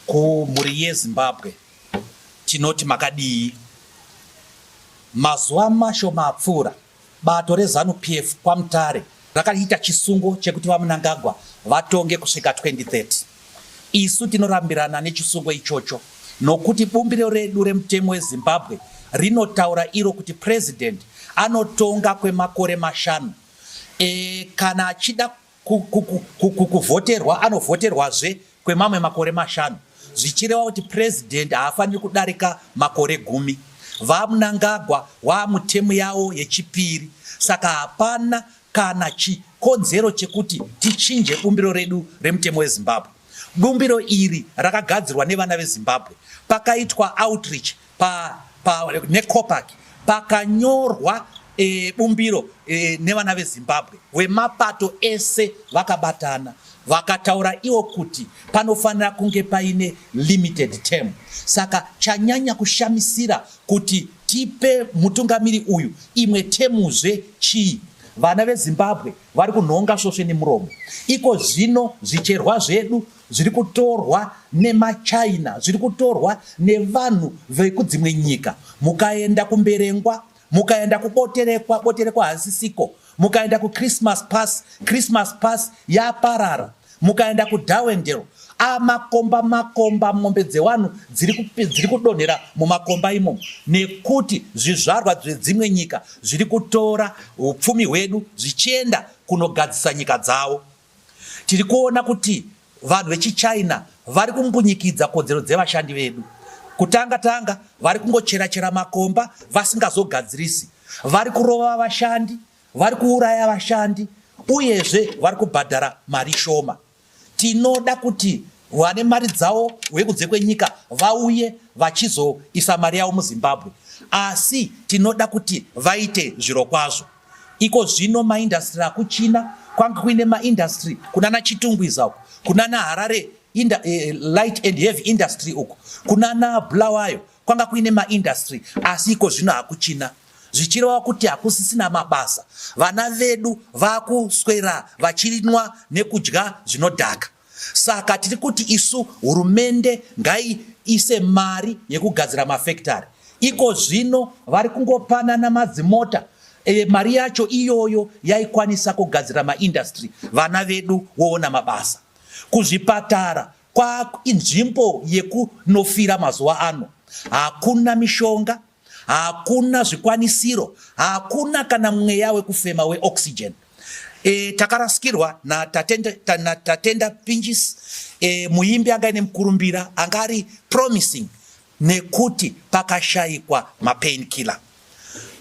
Kumhuri yeZimbabwe tinoti makadii? Mazuva mashoma apfuura, bato reZanu PF kwaMutare rakaita chisungo chekuti VaMnangagwa vatonge kusvika 2030. Isu tinorambirana nechisungo ichocho nokuti bumbiro redu remutemo weZimbabwe rinotaura iro kuti president anotonga kwemakore mashanu e, kana achida kuvhoterwa anovhoterwazve kwemamwe makore mashanu zvichireva kuti purezidhendi haafaniri kudarika makore gumi vamnangagwa waamutemu yawo yechipiri saka hapana kana chikonzero chekuti tichinje bumbiro redu remutemo wezimbabwe bumbiro iri rakagadzirwa nevana vezimbabwe pakaitwa outreach Pa, pa, neCOPAC pakanyorwa e, bumbiro e, nevana vezimbabwe vemapato ese vakabatana vakataura iwo kuti panofanira kunge paine limited term saka chanyanya kushamisira kuti tipe mutungamiri uyu imwe temuzve chii vana vezimbabwe vari kunhonga svosve nemuromo iko zvino zvicherwa zvedu zviri kutorwa nemachina zviri kutorwa nevanhu vekudzimwe nyika mukaenda kumberengwa mukaenda kuboterekwa boterekwa hazisiko mukaenda kuchristmas pass christmas pass yaparara mukaenda kudawendero amakomba makomba mombe dzevanhu dziri kudonhera mumakomba imomo nekuti zvizvarwa zvedzimwe nyika zviri kutora upfumi hwedu zvichienda kunogadzisa nyika dzavo Tiri kuona kuti vanhu vechiChina vari kumbunyikidza kodzero dzevashandi vedu. Kutanga tanga vari kungochera chera makomba vasingazogadzirisi, vari kurova vashandi, vari kuuraya vashandi uyezve vari kubhadhara mari shoma. Tinoda kuti vane mari dzavo vekunze kwenyika vauye vachizoisa mari yavo muZimbabwe, asi tinoda kuti vaite zvirokwazvo. Iko zvino maindastri akuChina kwange kuine maindastri kunana Chitungwiza uko kunana Harare inda, eh, light and heavy industry uko kunana Bulawayo kwanga kuine maindastri asi iko zvino hakuChina zvichireva kuti hakusisina mabasa. Vana vedu vakuswera vachinwa nekudya zvinodhaka. Saka tiri kuti isu hurumende ngaiise mari yekugadzira mafekitari. Iko zvino vari kungopanana madzimota e, mari yacho iyoyo yaikwanisa kugadzira maindastry vana vedu woona mabasa. Kuzvipatara kwainzvimbo yekunofira mazuva ano, hakuna mishonga Hakuna zvikwanisiro, hakuna kana mweya wekufema weoxygen. E, takarasikirwa naTatenda ta, na Tatenda Pinjis e, muimbi anga ine mukurumbira anga ari promising nekuti pakashaikwa mapain killer.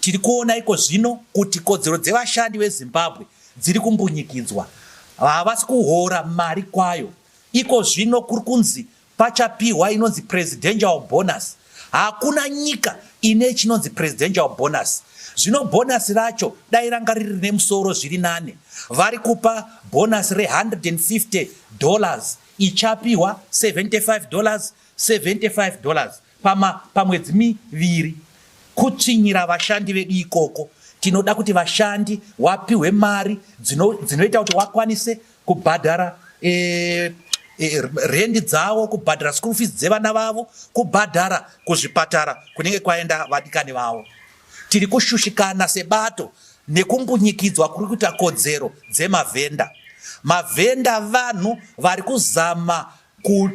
Tiri kuona iko zvino kuti kodzero dzevashandi veZimbabwe dziri kumbunyikidzwa, havasi kuhora mari kwayo. Iko zvino kuri kunzi Pachapihwa inonzi presidential bonus. Hakuna nyika ine chinonzi presidential bonus. Zvino bonus racho dai ranga riri rine musoro zviri nane. Vari kupa bonus re 150 dollars ichapihwa 75 dollars 75 dollars. Pama, pamwedzi miviri kutsvinyira vashandi vedu ikoko tinoda kuti vashandi wapihwe mari dzinoita dzino kuti wakwanise kubhadhara e, e, rendi dzavo kubhadhara school fees dzevana vavo kubhadhara kuzvipatara kunenge kwaenda vadikani vavo tiri kushushikana sebato nekumbunyikidzwa kuri kuita kodzero dzemavhenda mavhenda vanhu vari kuzama ku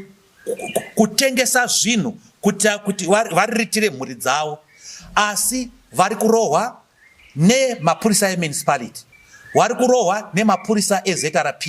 kutengesa zvinhu kuitira kuti variritire mhuri dzavo asi vari kurohwa nemapurisa emunicipality vari kurohwa nemapurisa ezrp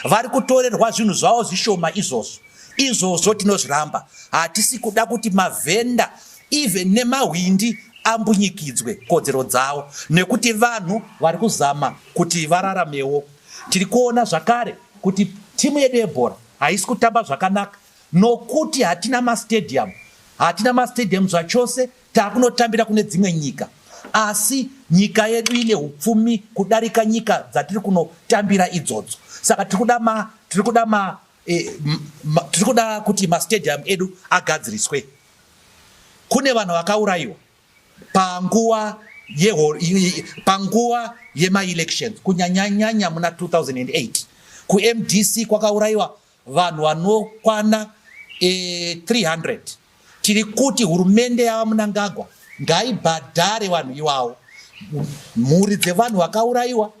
vari kutorerwa zvinhu zvavo zvishoma izvozvo izvozvo tinozviramba hatisi kuda kuti mavhenda even nemahwindi ambunyikidzwe kodzero dzavo nekuti vanhu vari kuzama kuti vararamewo tiri kuona zvakare kuti timu yedu yebhora Haisi kutamba zvakanaka nokuti hatina mastadium, hatina mastadium zvachose, takunotambira kune dzimwe nyika asi nyika yedu ine upfumi kudarika nyika dzatiri kunotambira idzodzo saka tiri kuda ma tiri kuda ma eh, tiri kuda kuti mastadium edu agadziriswe kune vanhu vakaurayiwa panguva panguva yemaelections kunyanyanyanya muna 2008 kumdc kwakaurayiwa vanhu vanokwana e, eh, 300 tiri kuti hurumende yava munangagwa ngaibhadhare vanhu iwawo mhuri dzevanhu vakaurayiwa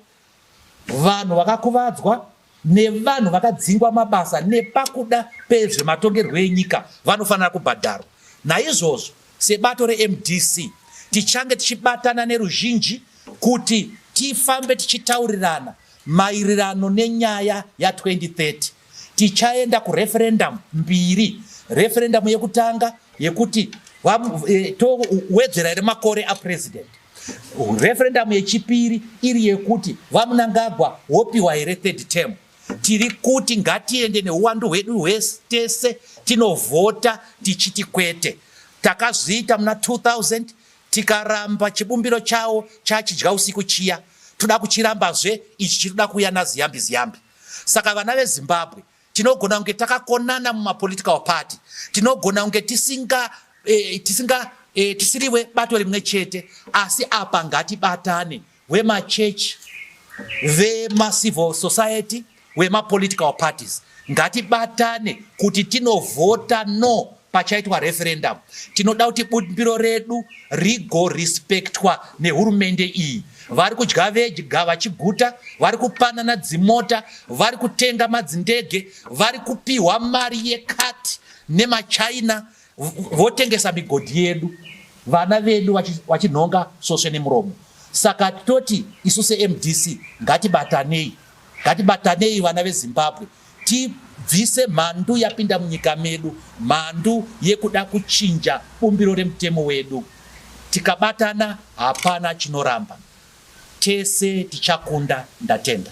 Vanhu vakakuvadzwa nevanhu vakadzingwa mabasa nepakuda pezvematongerwo enyika vanofanira kubhadharwa. Naizvozvo sebato reMDC tichange tichibatana neruzhinji kuti tifambe tichitaurirana mairirano nenyaya ya2030 tichaenda kureferendamu mbiri referendamu yekutanga yekuti e, towedzera here makore apurezidendi Referendum yechipiri iri yekuti VaMnangagwa wopiwa here third term. Tiri kuti ngatiende neuwandu hwedu hwese tese tinovhota tichiti kwete. Takazviita muna 2000 tikaramba chibumbiro chawo chachidya usiku chiya toda kuchirambazve ichi chiri kuda kuuya naziyambi ziyambi. Saka vana veZimbabwe Tinogona kunge takakonana mumapolitical party, tinogona kunge tisinga eh, tisinga eh, tisiriwe bato rimwe chete, asi apa ngatibatane vemachechi, vemacivil society, vemapolitical parties ngatibatane kuti tinovhota no pachaitwa referendum tinoda kuti bumbiro redu rigorespectwa nehurumende iyi vari kudya vedya vachiguta vari kupanana dzimota vari kutenga madzindege vari kupiwa mari yekati nemachina votengesa migodhi yedu vana vedu vachinhonga sosve nemuromo saka toti isu semdc ngatibatanei ngatibatanei vana vezimbabwe Tibvise mhandu yapinda munyika medu, mhandu yekuda kuchinja bumbiro remutemo wedu. Tikabatana hapana chinoramba. Tese tichakunda ndatenda.